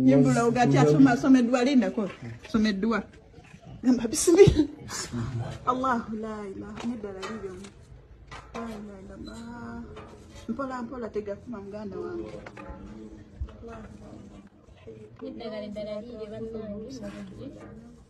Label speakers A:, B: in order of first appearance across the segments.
A: yimbula ogati asoma asoma edduwa lindako soma edduwa gamba bisimila allahu la ilaha neddala liryomu mpola mpola tegakuma muganda wange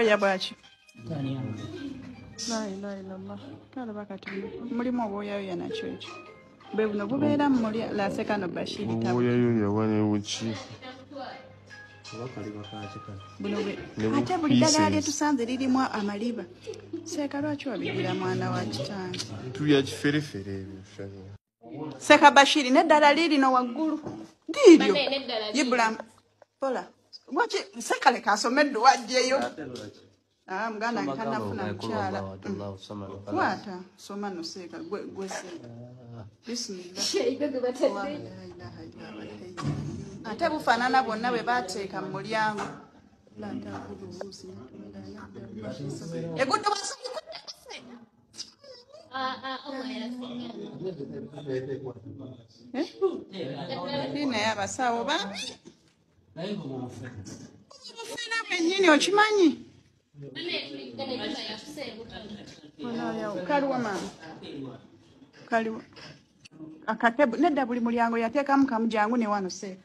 A: Oya bwaki? La ilaha illallah. Kale bakati mulimu obwoyayoya nakyo ekyo. Bwe buno bubeera mu muli laseka no Bashir tabu. Obwoyayoya bwali
B: buki? ate
A: buli ddagala lyetusanze lirimu amaliba seeka lwaki wabigira mwana wa kitange
B: seka
A: bashiri neddala liirino waggulu liiryo ibulamu pola waki sekaleka asome edduwa ajjeyo ah, muganda nkanafuna mukyala kwata soma noseeka gweseeka ah. bisimila ate bufaanana bwonna bwe bateeka mu mulyango egudde wasomikudde Hii naye abasawo bambi obufena bwennyini okimanyi kaliwa maama kaliwa akatebu nedda buli mulyango yateekamu kamu jangu newano seeka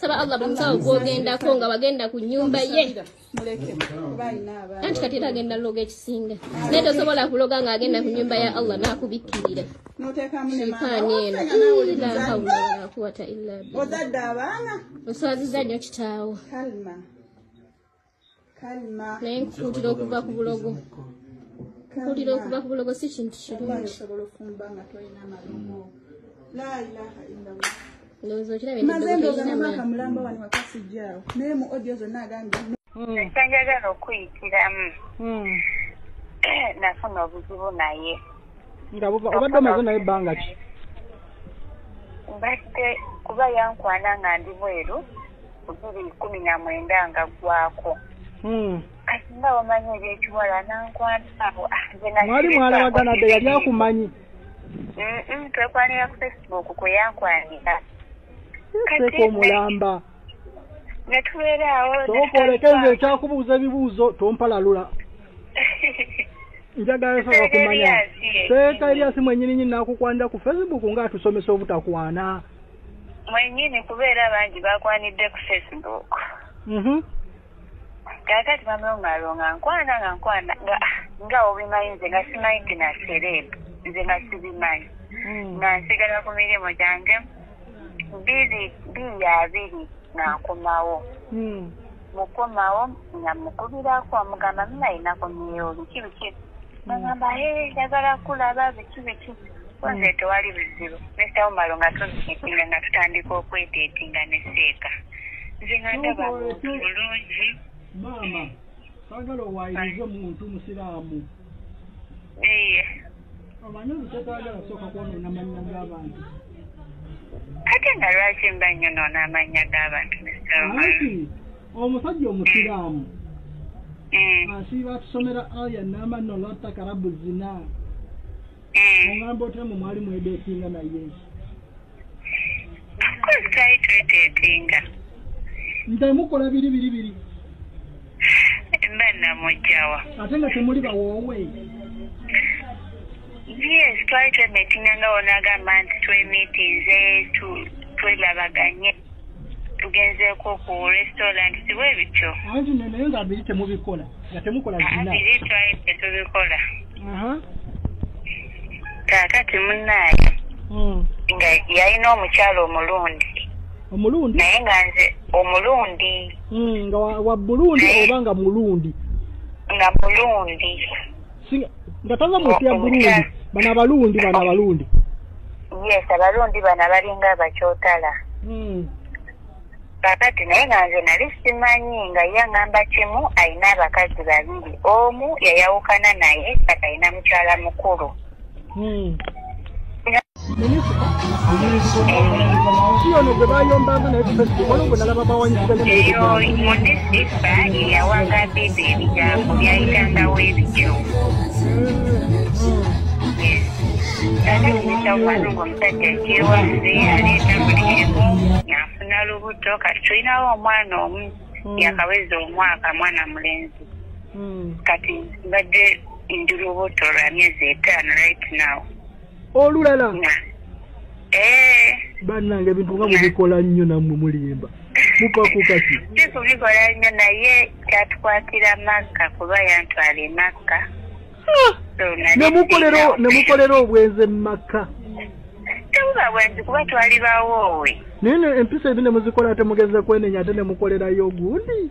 C: saba allah buli musawo gwogendako nga wagenda ku nyumba ye
A: anti kati era agenda loga
C: ekisinga naye tosobola kuloga nga agenda ku nyumba ya allah nakubikkirira
A: shaitaani eno
C: ilahaulakuwata illa
A: oswaziza nyo
C: kitaawo
A: naye nkukuutira okuva
C: ku bulogo kukuutira okuva ku bulogo si kintu
A: kirungi ndowooza okirabye ekyanjagala
D: okuyitiramu hmm. nafuna obuzibu naye nga
E: obadde omaze naye ebbanga ki mbadde
D: kuba yankwana nga ndi bweru bibiri kumi na mwenda nga ggwako hmm. kati nga wamanyi ebyekiwala nankwataabo ah, mwali mwalabagana
E: dde yali akumanyi
D: twekwanira ku facebook kwe yankwanira
E: seeka omulamba
D: netweeraawooleke nze
E: ekyakubuuza ebibuuzo tompalalula njagala saba kumanya seeka eryasi mwenyininyini nakukwanira ku facebook nga atusomesa obutakwana mwenyini
D: kuba era bangi bakwanidde ku facebook mhm. kakati bamulongalonga nkwana nga nkwana nga nga obimanyi nze nga simanyi nti na sereb nze nga sibimanyi hmm. nga nsigala ku mirimu gyange biri biri abiri nankomawo hmm. mukomawo nga mukubirako amugamba minainako nyeyo biki biki nagamba mm. ee eh, yagala kulaba biki biki nze mm. tewali bizibu mr omaro nga tuzikitinga nga tutandika okwetetinga neseeka nze nga ndaba bulungi maama
E: sagala owayirize omuntu musiraamu eye omanyi olutotwagala kusooka kwonoona mannya g'abantu
D: ate nga lwaki mba nnyo noona amannya g'abantu msrmati
E: omusajja omusiraamu mm. asiiba atusomera aya namanno lwatakarabu zina mm. ongamba otya mu mwali mwedeetinga naye
D: nze
E: mukola biri biri biri mba
D: namujjawa ate nga temuli
E: bawoowe
D: yes twali twemetinga nga wona agamba nti twemitinze twelabaganye tugenzeeko ku restaurant siwe ebityo anti no naye nga biri
E: temubikola nga temukola biri twali
D: tetubikola kakati munaayo hmm. nga yalina omukyalo omulundi omulundi naye nga nze omulundi hmm, nga
E: wa bulundi oba nga mulundi nga
D: mulundi
E: nga tava mu nsi ya burundi bano abalundi bano abalundi
D: yes abalundi bano abalinga abakyotala hmm. kakati naye nga nze nali simanyi nga ye aŋamba kimu alina abakazi babiri omu yayawukana naye kati alina mukyala mukulu Hmm. eyo mudisipa eyawaga bebe ebigambo byayitangawo ebityo ate okuyita okwano ngaomusajja kyewaffe aleeta buli emu yafuna lubuto kati tulinawo omwana omu yakaweza omwaka mwana mulenzi kati mbadde ndi lubuto lwa myezi etaano right now olulala
E: eh. bannange ebintu nga mubikola nnyo nammwe mulimba mupakukaki si kubikola nnyo
D: naye kyatukwatira makka kuba yantwala emakka
E: nemukolera obwenzi mumakka tebuba
D: bwenzi kuba twali bawoowe naye empisa
E: ebi nemuzikola ate mugeze kwenenya ate nemukolerayo ogundi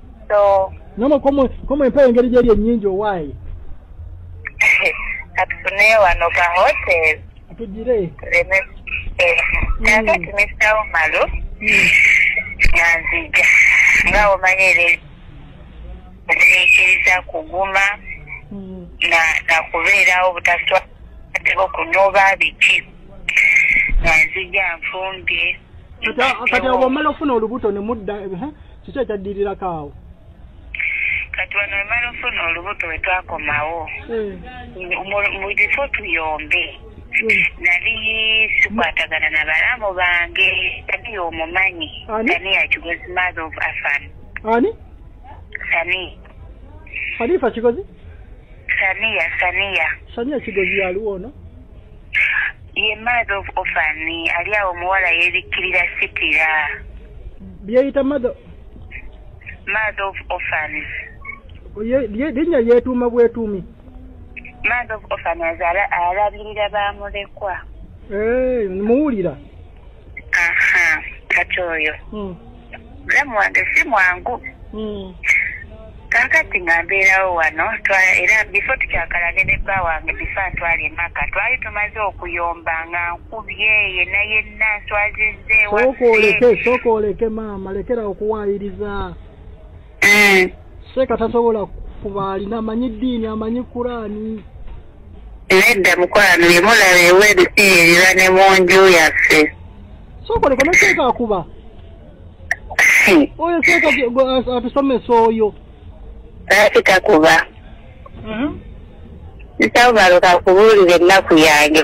D: namwe
E: komwe empewo engeri gyeri enyingi owaayi
D: katufuneyo wano ka hotel tugire
E: kakati
D: mr umalu nanzija nga omanya era nzikiriza kuguma nakubeerawo butaswa ateka okunoba biki nanzija nfumbye kati
E: obwomala okufuna olubuto nemudda kiki ekyaddirirako awo
D: kati wano wemala ofuna olubuto wetwakomawo eh. mubifo tuyombe eh. nali sikwatagana na balamu bange ani omumanyi ani yakigozi mother of afan ani
E: sani halifa kigozi saniya saniya saniya kigozi yaliwo ono
D: ye mother of orphan ali awo omuwala yebikkirira sitira byeyita
E: mother
D: mother of orphan
E: linnya lyetuuma bwetuumi mother
D: of orphan azaala alabirira bamulekwa eh,
E: muwulira aha
D: kati oyo hmm. mulamu wange si mwangu hmm. kakati nga mbeerawo wano era bifo tukyakalane ne bba wange bifa ntwala emaka twali tumaze okuyomba nga nkubye yena yenna nswazizeewa sooka oleke sooka oleke
E: maama lekera okuwaayiriza eh. seeka tasobola kuba alina amanyi ddiini amanyi kuraani
D: nedda mukwano yemulaba ewa ebisiirira ne mu nju yaffe sokoleka
E: ne seeka akuba oyo seeka atusomesa oyo lwaki
D: takuba mhm. nsaubalo kakubuulira ennaku yange